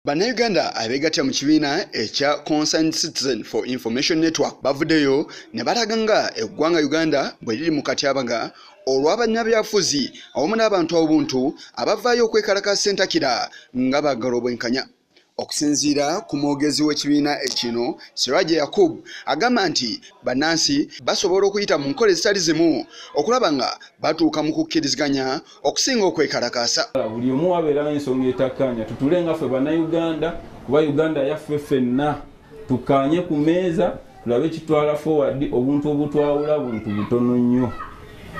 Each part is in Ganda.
bannayuganda abeegattira mu kibiina ekya concerned citizen for information network bavuddeyo ne balaga nga eggwanga uganda bwe liri mu katyabaga olw'abannabyafuzi awamu n'abantu obuntu abavaayo okwekalaka sentakira nga baagala obwenkanya okusinziira ku mwogezi w'ekibiina ekino siraje yakub agamba nti bannansi basobola okuyita mu nkola ezitali zimu okulaba nga batuuka mu kukkiriziganya okusinga okwekalakaasa. Buli omu wabeerawo ensonga etakkaanya tutuule nga ffe Bannayuganda kuba Uganda yaffe ffenna. Tukkaanye ku mmeeza tulabe kitwala forward obuntu obutwawula buntu butono nnyo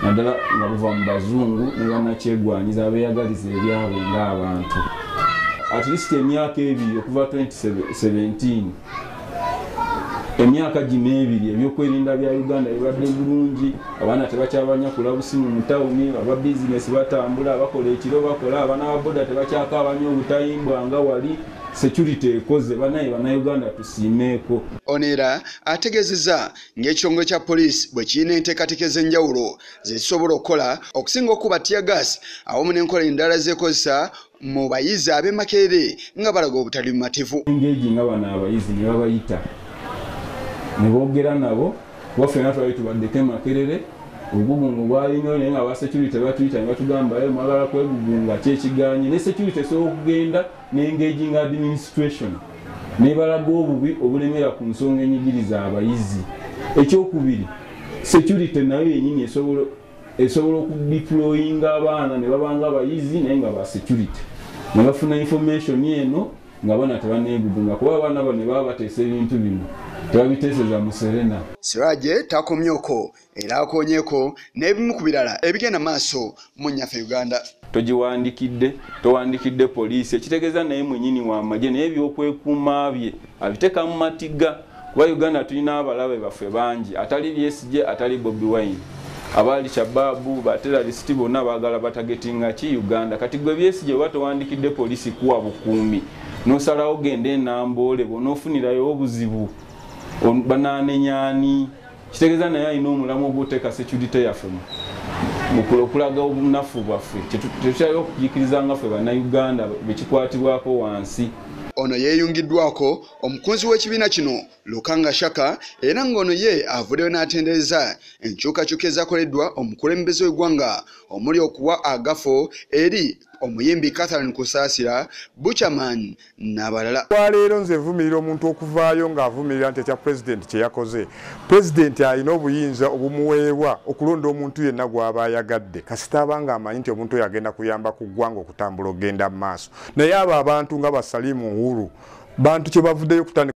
naddala nga buva mu bazungu ne bannakyegwanyiza abeeyagaliza ebyabwe ng'abantu. At least emyaka ebiri okuva 2017 emyaka gino ebiri ebyokwerinda bya uganda bibadde bulungi abaana tebakyabanyakula busimu mu tawuni aba bizinesi batambula bakola ekiro bakola abaana ba boda tebakyakaabanya obutayimbwa nga wali security ekoze banaye banauganda tusiimeeko ono era ategezeza ng'ekitongole kya poliisi bwe kirina enteekateeka ez'enjawulo zezisobola okukola okusinga okukuba tiyagas awamu n'enkola endala zekozesa mu bayizi ab'e Makerere nga balaga obutali bumativu. Engage nga bano abayizi ne babayita ne boogera nabo kuba ffena twali tubaddeko e Makerere obugugungo bwali nnyo naye nga aba security batuyita ne batugamba ye mwagala kwegugunga ki ekigaanye ne security esobola okugenda ne engage nga administration nebalaga obubi obulemera ku nsonga enyigiriza abayizi. Ekyokubiri security nayo yenyini esobola esobola okudiployinga abaana ne babanga abayizi naye nga ba security ne bafuna information eno nga abaana tebanegugunga kuba abaana bano baba bateesa ebintu bino tebabiteeseza mu serena siraje takomyoko era akonyeko n'ebimu ku birala ebigenda maaso mu nnyaffe uganda togiwandikidde towandikidde poliisi ekitegeeza naye mwenyini w'amagye naye ebyokwekuuma bye abiteeka mu matigga kuba uganda tulina abalabe baffe bangi atali bsj atali bobi wine abaali shababu batera lisiti bonna bagala batagetinga ki uganda kati gwe bsj oba towandikidde polisi kuwa bukuumi nosalawo genda enamboole bona ofunirayo obuzibu bananenyani kitegeeza naye alina omulamu ogwoteeka security yaffe okulaga obunafu bwaffe tetukyali okujikirizanga ffe banauganda bekikwatibwako wansi ono yeyungiddwako Omukunzi w'ekibiina kino Lukanga Shaka era ng'ono ye avuddeyo n'atendereza enkyukakyuka ezakoleddwa omukulembeze w'eggwanga omuli okuwa agafo eri omuyimbi Catherine Kusaasira, Buchaman n'abalala. Olwaleero nze nvumirira omuntu okuvaayo ng'avumirira nti ekya pulezidenti kye yakoze. Pulezidenti alina obuyinza obumuweebwa okulonda omuntu yenna gw'aba ayagadde kasita aba ng'amanyi nti omuntu oyo agenda kuyamba ku ggwanga okutambula okugenda mu maaso. naye abo abantu nga ba Salim Uhuru bantu kyebavudeyo kutandika